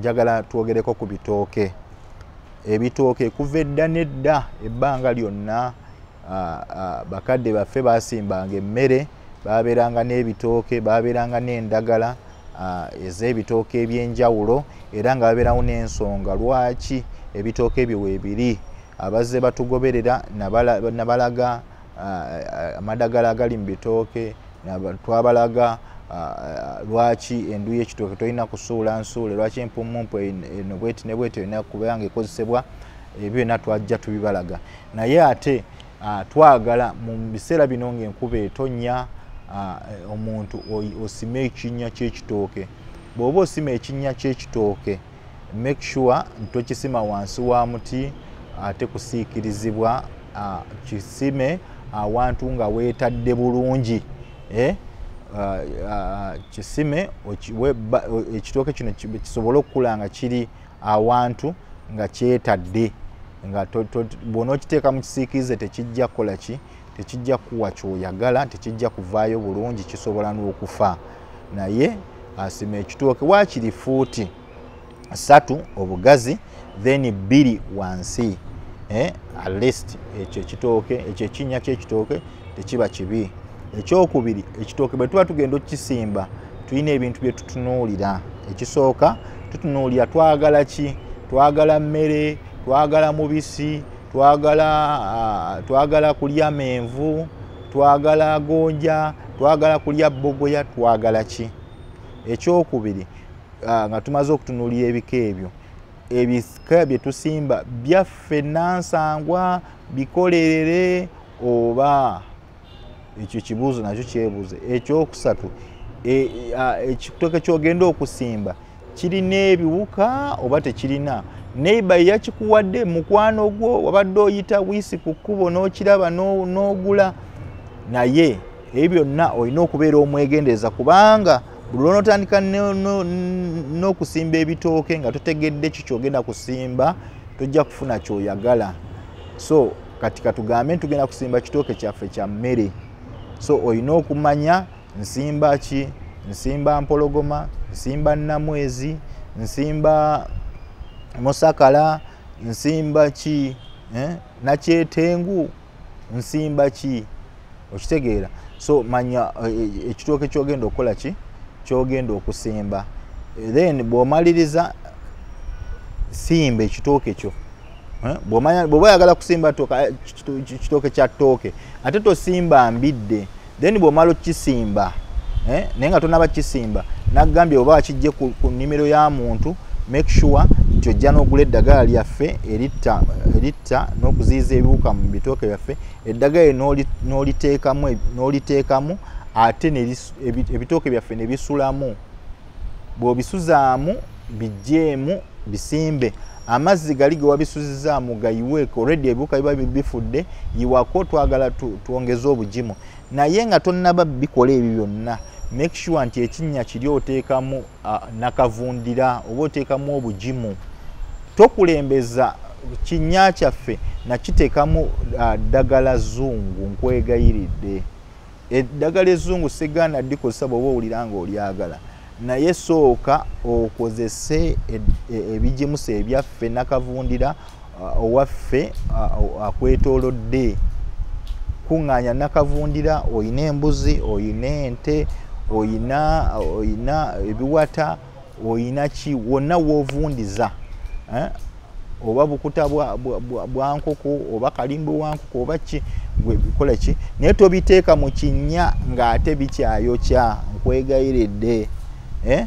njagala twogereko ku bitooke ebitooke kuva edda nedda ebbanga lyonna bakadde baffe basimbanga emmere baabeeranga n'ebitooke baabeeranga n'endagala ah, ez'ebitooke eby'enjawulo era nga babeerawo n'ensonga lwaki ebitooke ebyo weebiri abazze batugoberera nabalaga ah, amadagala agali mu bitooke twabalaga ah, lwaki endu y'ekitooke tolina kusuula nsuule lwaki empummumpu eno bweti ne bweti olina kubanga ekozesebwa ebyo byonna twajja tubibalaga naye ate Ah, twagala mu biseera bino ng'enkuba etonnya ah, eh, omuntu osima ekinnya ky'ekitooke bw'oba osima ekinnya ky'ekitooke make sure ntokisima wansi wa muti ate kusiikirizibwa ah, kisime awantu nga weetadde bulungi eh? kisime ekitooke kino kisobole okukula nga kiri awantu nga kyetadde nga bwona okiteeka mu kisiikirize tekijja kukola ki tekijja kuwa kyoyagala tekijja kuvaayo bulungi kisobola n'okufa naye asima ekitooke waakiri fuuti satu obugazi then bbiri wansi eh, at least ekyo ekitooke ekyo ekinnya ky'ekitooke tekiba kibi ekyokubiri ekitooke bwe tuba tugenda okukisimba tulina ebintu bye tutunuulira ekisooka tutunuulira twagala ki twagala mmere twagala mubisi twagala ah, twagala kulya menvu twagala gonja twagala kulya bogoya twagala ki ekyokubiri ah, nga tumaze okutunuulira ebika ebyo ebika bye tusimba byaffe nansangwa bikolerere oba ekyo ekibuuzo nakyo kyebuuze ekyokusatu e, ekitoke kyogenda okusimba kirina ebiwuka oba tekirina neiba yakikuwadde mukwano gwo wabadde oyita wiisi ku kkubo n'okiraba n'ogula naye ebyo byonna olina okubeera omwegendereza kubanga buli lwonotandika n'okusimba ebitooke nga totegedde ki kyogenda kusimba tojja kufuna kyoyagala so kati katugambe ntugenda kusimba kitooke kyaffe kya mmere so olina okumanya nsimba ki nsimba mpologoma nsimba namwezi nsimba musakala nsimba ki eh? nakyetengu nsimba ki okitegeera so manya eh, eh, ekitooke e, e, kyogenda okukola ki kyogenda okusimba then bwomaliriza simba ekitooke kyo Eh, bwoba oyagala kusimba eh, kitooke kya tooke ate tosimba mbidde then bwomala okisimba eh, naye nga tonaba kisimba nagambye oba akijje ku nimiro ya muntu make sure nti ojja n'ogula eddagala lyaffe eritta n'okuziyiza ebiwuka mu bitooke byaffe eddagala noliteekamu ate ebitooke byaffe nebisulamu bw'obisuzaamu bijeemu bisimbe amazzi gali ge wabisuzizaamu gayiweeko redi ebiwuka biba bifudde yiwako twagala twongeze obugimu naye nga tonnaba bikola ebyo byonna make sure nti ekinnya kiri oteekamu nakavundira oba oteekamu obugimu tokulembeza kinnya kyaffe nakiteekamu ddagala zungu nkwegayiridde eddagala ezzungu sigaana dikozesa bwoba owulira nga olyagala naye sooka okozese e, e, ebigimusa ebyaffe nakavundira uh, owaffe uh, uh, akwetolodde kuŋŋaanya nakavundira oyina embuzi oyina ente oyina ebiwata oyina ki wonna wovundiza eh? oba bukuta bwankoko oba kalimbo wankoko oba ki kola ki naye tobiteeka mu kinnya ng'ate bikyayokya nkwegayiridde eh?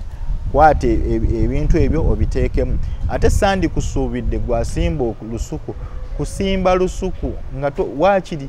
kwata e, e, ebintu ebyo obiteekemu ate sandi kusuubidde gwasimba lusuku kusimba lusuku nga wakiri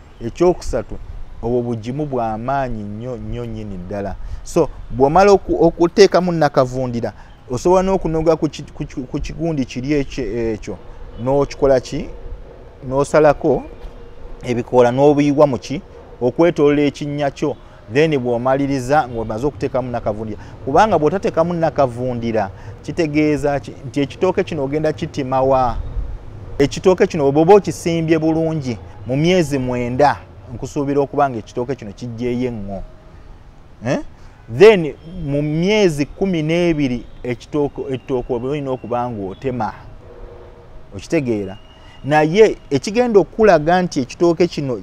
ekyokusatu obwo bugimu bwa maanyi nnyo nnyo nnyini ddala so bw'omala okuteekamu nakavundira osobola n'okunoga ku kigundi kiri ekyo n'okikola ki n'osalako ebikoola n'obuyiwa mu ki okwetolola ekinnya kyo then bwomaliriza ngaomaze okuteekamu nakavundira kubanga bwotateekamu nakavundira kitegeeza nti ekitooke kino ogenda kitimawa ekitooke kino oboba okisimbye bulungi mu myezi mwenda nkusuubira okuba nga ekitooke kino kijjeeyo eŋŋo eh? then mu myezi kumi n'ebiri ekitooke olina okuba ngaotema okitegeera naye ekigenda okukulaga nti ekitooke kino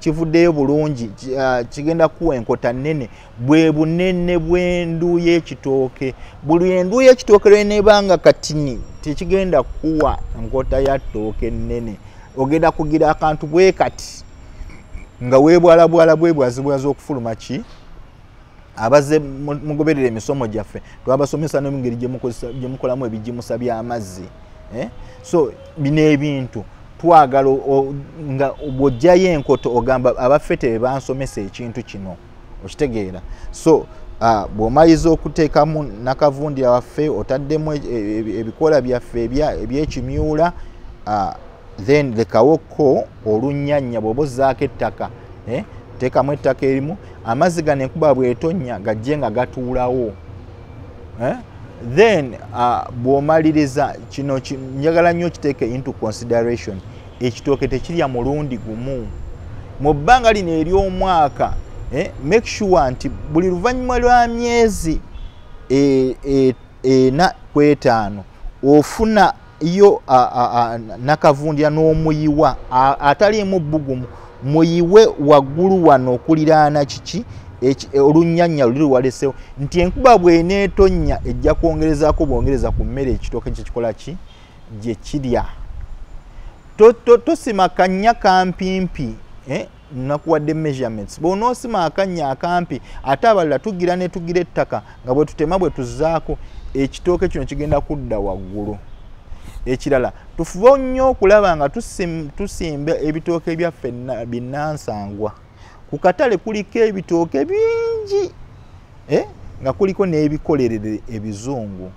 kivuddeyo bulungi ah, kigenda kuwa enkota nnene bwe bunene bw'endu y'ekitooke buli endu y'ekitooke lweneeba nga katini tekigenda kuwa nkota ya ttooke nnene ogenda kugira akantu bwe kati nga weebwalabwala bwebwazibwaza okufuluma ki abaze mugoberera emisomo gyaffe twabasomesa nomungeri gyemukolamu ebijimusa byamazzi eh? so bino ebintu twagala nga bwojjayo enkoto ogamba abaffe tebebansomesa ekintu kino okitegeera so Ah, bwomaliza okuteekamu nakavundi waffe otaddemu e, e, e, ebikola byaffe ebyekimyula ah, then lekawokko olunnyanya bw'oba ozzaako ettaka eh, teekamu ettaka erimu amazzi gano enkuba bwetonnya gajje nga gatuulawo eh, then uh, bw'omaliriza kino njagala nnyo okiteeka into consideration ekitooke tekirya mulundi gumu mu bbanga lino ery'omwaka eh, make sure nti buli luvannyuma lwa myezi e, e, ena ku etaano ofuna yo nakavundira n'omuyiwa ataliimu bbugumu muyiwe waggulu wano okuliraana kiki e, olunyanya luli walesewo nti enkuba bweneetonnya ejja kwongerezaako bwongereza ku mmere ekitooke kyekikola ki gye kirya tosima kannya kampimpi eh? nakuwadde measurements bwonoosima akannya akampi ate abalala tugira ne tugira ettaka nga bwe tutema bwe tuzaako ekitooke kino kigenda kudda waggulu ekirala tufube nnyo okulaba nga tusimba ebitooke byaffe binnansangwa ku katale kuliko ebitooke bingi eh? nga kuliko n'ebikolerere ebizungu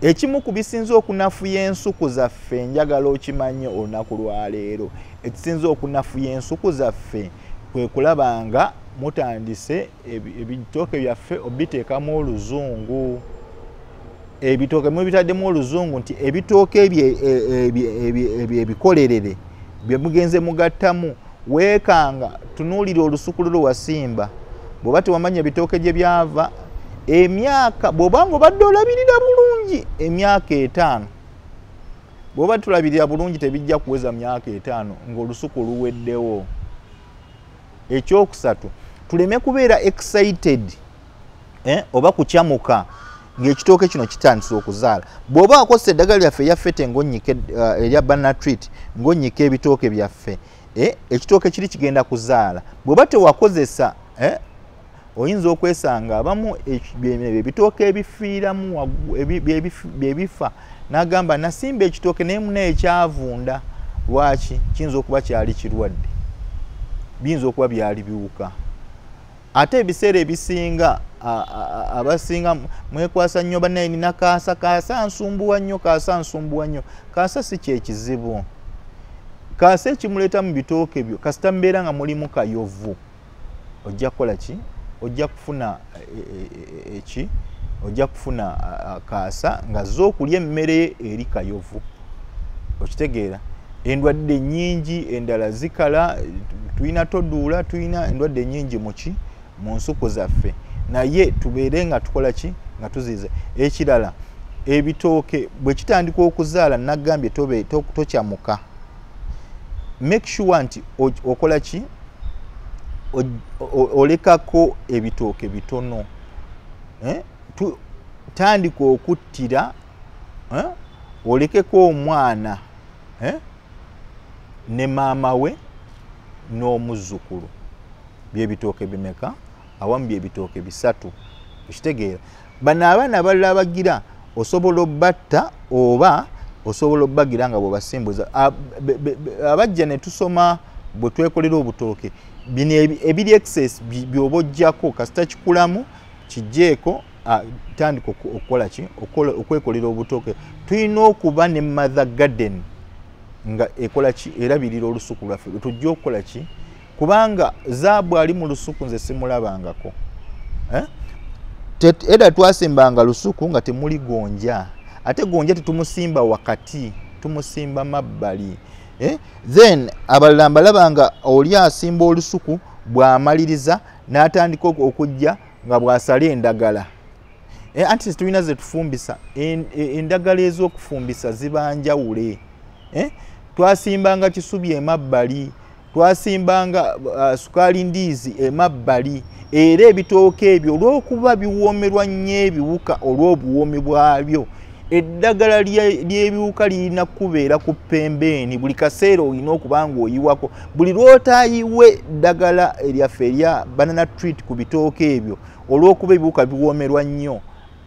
ekimu ku bisinza okunafuya ensuku zaffe njagala okimanye olunaku lwaleero ekisinza okunafuya ensuku zaffe kwe kulaba nga mutandise ebitooke byaffe obiteekamu oluzungu ebitooke mubitaddemu oluzungu nti ebitooke ebyo e, ebikolerere bye mugenze mugattamu weekanga tunuulira olusukulu lwe wasimba bw'oba tewamanya ebitooke gye byava emyaka bw'oba nga obadde olabirira bulungi emyaka etaano bw'oba tulabirira bulungi tebijja kuweza myaka etaano ng'olusuku luweddewo ekyokusatu tuleme kubeera excited eh, oba kukyamuka ng'ekitooke kino kitandisa okuzaala bw'oba akozesa eddagala lyaffe erya fete ngonyike eh, erya banatreat ngonyika ebitooke byaffe eh, ekitooke kiri kigenda kuzaala bw'oba tewakozesa eh, oyinza okwesanga abamu ebitooke ebifiiramu byebifa n'agamba nasimba ekitooke naye muna ekyavunda lwaki kiyinza okuba kyali kirwadde biyinza okuba byali biwuka ate ebiseera ebisinga abasinga mwekwasa nnyo banaye nina kaasa kaasa nsumbuwa nnyo kaasa nsumbuwa nnyo kaasa si kyekizibu kaasa ekimuleeta mu bitooke byo kasita mubeera nga mulimu kayovu ojja kukola ki ojja kufuna e, e, e, e, eki ojja kufuna kaasa nga zo okulya emmere eri kayovu okitegeera endwadde nyingi endala zikala tulina toduula tulina endwadde nyingi muki mu nsuku zaffe naye tubeere nga tukola ki nga tuziiza ekirala ebitooke bwe kitandika okuzaala nagambye tokyamuka to make sure nti okola ki olekako ebitooke bitono eh? tandika okuttira eh? olekeko omwana eh? ne maama we n'omuzzukulu byebitooke bimeka awambye ebitooke bisatu okitegeera bano abaana abalala abagira osobola obatta oba osobola obagira nga bwebasimbuza abajja netusoma bwetwekolera obutooke bino ebiri excess byoba ojjako kasita kikulamu kijjeeko tandika okukola ki okwekolera obutooke tulina okuba ne mother garden nga ekolaki erabirira olusuku lwaffe tujja okukolaki kubanga zaabu ali mu lusuku nze simulabangako eh? eda twasimbanga lusuku nga temuli gonja ate gonja tetumusimba wakati tumusimba mabbali eh? then abalala mbalaba nga oli asimba olusuku bwamaliriza n'atandika okujja nga bwasala endagala eh, anti tulina zetufumbisa e, endagala ez'okufumbisa zibanjawule eh? twasimbanga kisubi emabbali twasimbanga uh, sukaali ndiizi emabbali era ebitooke ebyo olw'okuba biwoomerwa nnyo ebiwuka olw'obuwoomi bwabyo eddagala ly'ebiwuka lirina kukubeera ku pembeeni buli kaseera olina okuba nga oyiwako buli lw'otayiwe ddagala eryaffe erya banana treat ku bitooke ebyo olw'okuba ebiwuka biwoomerwa nnyo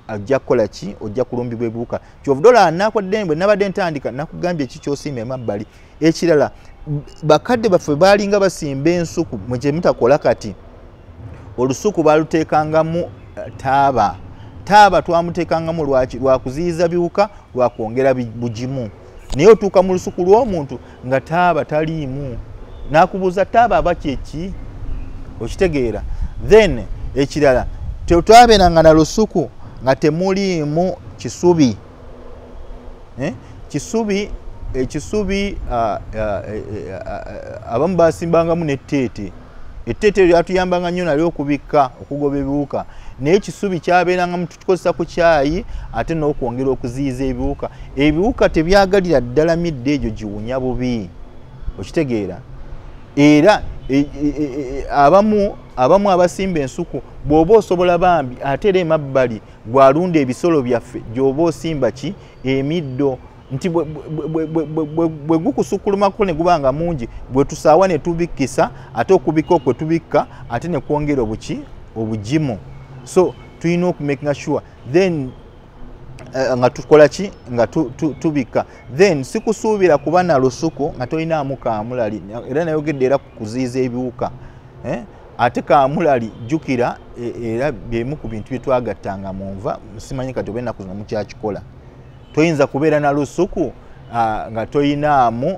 ajja kukola ki ojja kulumbibwa ebiwuka kyovudolaa nakwadde mbwe nabadde ntandika nakugambye ki kyosiima emabbali ekirala bakadde baffe baalinga basimba ensuku mwekyemutakola kati olusuku baaluteekangamu eh, taaba taaba twamuteekangamu lwaki lwakuziyiza biwuka lwakwongera bugimu naye otuuka mu lusuku lw'omuntu nga taaba taliimu nakubuuza taaba aba kyeki okitegeera then ekirala tetwabeeranga na lusuku nga temuliimu kisubi eh? kisubi ekisubi ah, ah, eh, eh, ah, abamu basimbangamu neteete etteete eryo atuyambanga nnyo nali okubikka okugoba ebiwuka naye ekisubi kyabeerangamu tukikozesa ku kyayi ate n'okwongera okuziyiza ebiwuka ebiwuka tebyagalira ddala midde egyo giwunya bubi okitegeera era e, e, e, abamu abamu abasimba ensuku bw'oba osobola bambi ate era emabbali gwalunda ebisolo byaffe gyoba osimba ki emiddo nti bwe gukusukulumakko ne guba nga mungi gwe tusaawa ne tubikkisa ate okubikka okwe tubikka ate ne kwongera obuki obugimu so tulina okumakinga sure then eh, nga tukola ki nga tubikka then sikusuubira kuba na lusuku nga tolinaamu kaamulali era nayogedde era ku kuziiza ebiwuka eh? ate kamulali jjukira e, era byemu ku bintu bye twagattanga mu nva simanyi kati oba ennaku zino mukyakikola toyinza kubeera na lusuku nga toyinaamu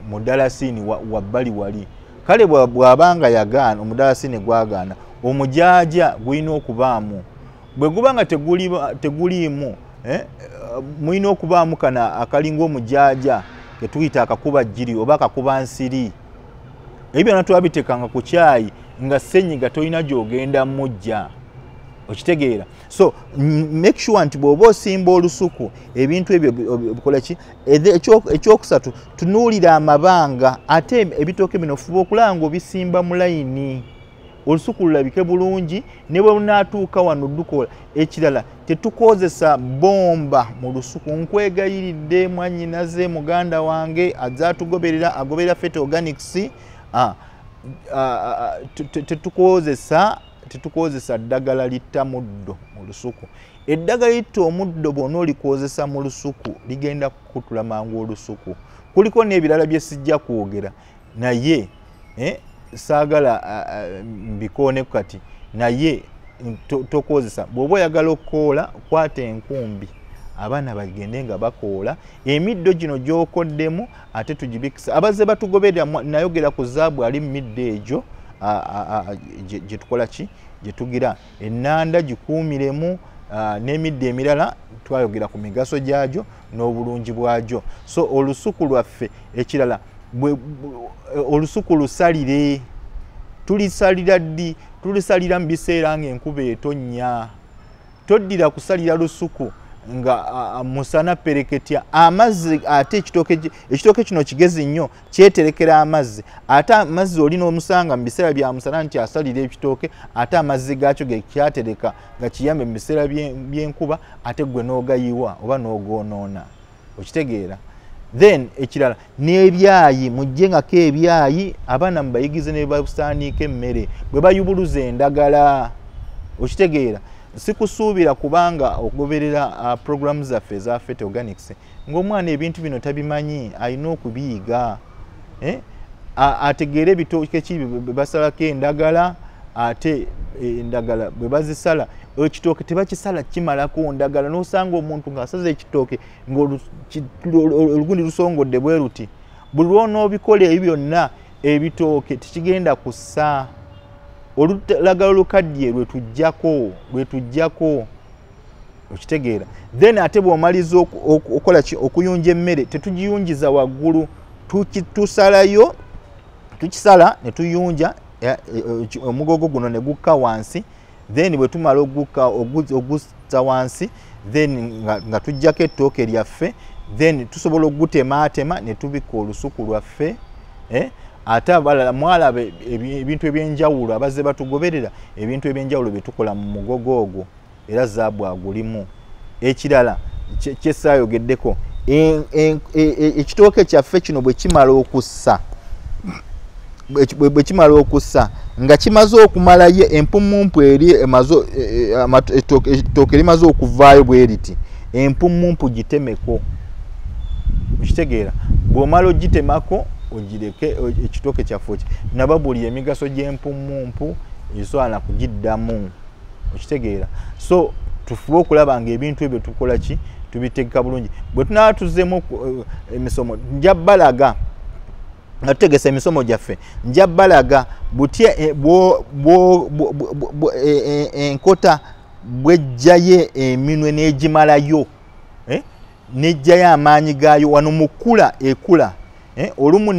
mudalasiini wabbali wali kale bw'aba nga yagaana omudalasiini gwagaana omujaaja gulina okubaamu bwe guba nga teguliimu eh, mulina okubaamu kana akalinga omujaaja ketuyita akakuba jjiri oba akakuba nsiri ebyo byonna twabitekanga ku kyayi nga senyiga tolina gyogenda mujja okitegeera so make sure nti bw'oba osimba olusuku ebintu ebyo bikola ki ekyokusatu tunuulira amabanga ate ebitooke bino fuba okulaba nga obisimba mu layini olusuku lulabike bulungi ne bwe lunaatuuka wano dukola ekirala tetukozesa bomba mu lusuku nkwegayiridde mwanyinaze muganda wange aza atugoberera agoberera fete organics tetukozesa tetukozesa ddagala litta muddo mu lusuku eddagala litta omuddo bwona olikozesa mu lusuku ligenda kukutula mangu olusuku kuliko n'ebirala bye sijja kwogera naye eh, saagala uh, mbikooneku kati naye tokozesa to bw'oba oyagala okukoola kwata enkumbi abaana bagende nga bakoola emiddo gino gyokoddemu ate tugibikisa abazze batugoberera nayogera ku zaabu ali mu middo egyo gyetukola ki gyetugira enanda gikuumiremu n'emiddo emirala twayogera ku migaso gyagyo n'obulungi bwagyo so olusuku lwaffe ekirala olusuku lusalire tulisalira ddi tulisalira mu biseera ng'enkuba etonnya toddira kusalira lusuku nga musana pereketya amazzi ate ekitooke kino kigezi nnyo kyeterekera amazzi ate amazzi oli n'omusanga mu biseera bya musana nti asalira ekitooke ate amazzi gaakyo gekyatereka nga kiyambe mu biseera by'enkuba ate gwe n'ogayiwa oba n'ogoonoona okitegeera then ekirala n'ebyayi mujje ngako ebyayi abaana mubayigize ne basaaniika emmere bwe bayubuluza endagala okitegeera sikusuubira kubanga okugoberera uh, programu zaffe eza fete organics ng'omwana ebintu bino tabimanyi alina okubiyiga eh? ategeere ebitookeki bebasalako endagala ate e, endagala bwe bazisala ekitooke tebakisala kimalako ndagala nosanga omuntu ngaasaza ekitooke ngaolugundi lusongodde bwe luti buli lwonaobikola ebyo byonna ebitooke tekigenda kussa olulagala olukaddiye lwetujjako lwetujjako okitegeera then ate bwomaliza okukola ki okuyunja emmere tetugiyunjiza waggulu tusalayo tukisala ne tuyunja eh, eh, omugogo guno ne gukka wansi then bwe tumala ogukka oguzza wansi then nga tujjako ettooke lyaffe then tusobola okugutemaatema ne tubikka olusuku lwaffe eh? ate abalala mwalaba ebintu ebyenjawulo abazze batugoberera ebintu ebyenjawulo byetukola mu mugogo ogwo era zaabu agulimu ekirala kyesaayogeddeko e, e, e, ekitooke kyaffe kino bwekimala okussa bwekimala okussa nga kimaze okumalayo empumumpu eri etooke erimaze okuvaayo bweriti empumumpu gitemeko okitegeera bwomala ogitemako ogireke ekitooke kyaffe naba buli emigaso gy'empumumpu eswala kugiddamu okitegeera so tufube okulaba nga ebintu ebyo tukola ki tubitegeka bulungi bwe tunaba tuzemu eh, emisomo nja balaga nga tutegesa emisomo gyaffe nja balaga butya eh, eh, enkota bwejjayo eminwe n'egimalayo nejjayo amaanyi gaayo wano mukula ekula Eh, olumu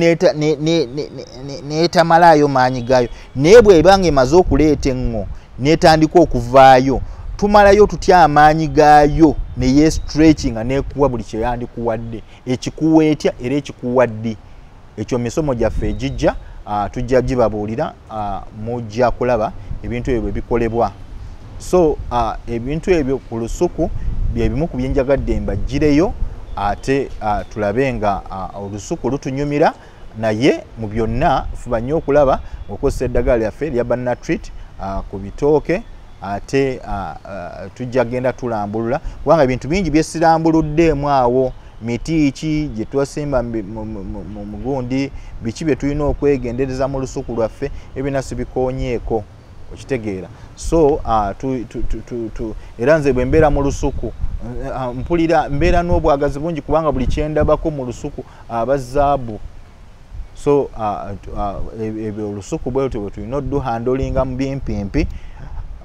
neetamalaayo maanyi gaayo naye bweba nga emaze okuleeta eŋŋo netandika okuvaayo tumalayo tutya amaanyi gaayo neye stretchinga nekuwa buli kyeyandikuwadde ekikuwa etya era ekikuwa ddi ekyo misomo gyaffe egijja ah, tujja gibabuulira uh, mujja kulaba ebintu ebyo bwe bikolebwa so uh, ebintu ebyo ku lusuku bye bimu ku byenjagadde mbajjireyo ate uh, tulabe nga uh, olusuku lutunyumira naye mu byonna fuba nnyo okulaba okozesa eddagala lyaffe lya banatrit uh, ku bitooke ate uh, uh, tujja genda tulambulula kubanga ebintu bingi byesirambuluddeemu awo miti ki gye twasimba mu mugundi biki bye tulina okwegendereza mu lusuku lwaffe ebina sibikonyeeko okitegeera so uh, tu, tu, tu, tu, tu. era nze bwe mbeera mu lusuku uh, mpulira mbeera n'obwagazi bungi kubanga buli kyendabako mu lusuku aba uh, zaabu so uh, uh, e, e, olusuku bwe lutyo bwe tulina oduhandolinga mu bimpimpi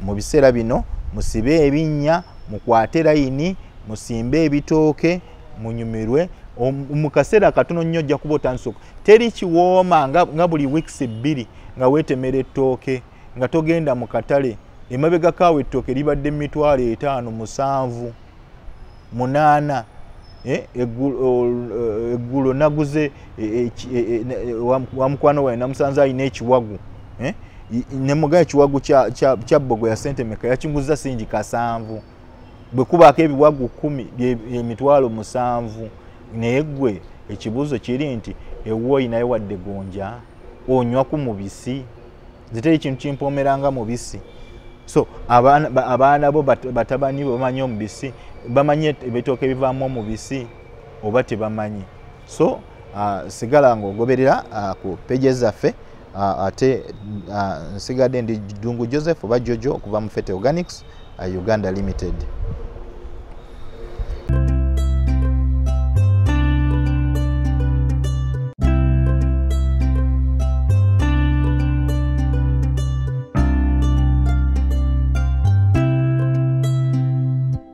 mu biseera bino musibe ebinnya mukwate layini musimbe ebitooke munyumirwe mu kaseera katono nnyo ojja kuba otandisa teri kiwooma nga buli wiikisi bbiri nga weetemera ettooke nga togenda mu katale emabegako awo ettooke libadde mitwalo etaano musanvu munaana eh, eh, eggulo naguze eh, wa mukwano wae namusanze alina ekiwagu nemugaa ekiwagu kya bbogo ya sente meka yakinguza singi kasanvu bwe kubaako ebiwagu kumi emitwalo musanvu naye gwe ekibuuzo kiri nti ewuwo olinayo wadde gonja onywa ku mubisi ziteri kintu kimpoomera nga mubisi so abaana bo batabani bo bamanyi omubisi bamanyi ebitooka ebivaamu omubisi oba tebamanyi so uh, sigala nga ogoberera uh, ku peje zaffe uh, ate uh, nsigadde ndi dungu joseph oba jojo okuva mu fete organics uh, uganda limited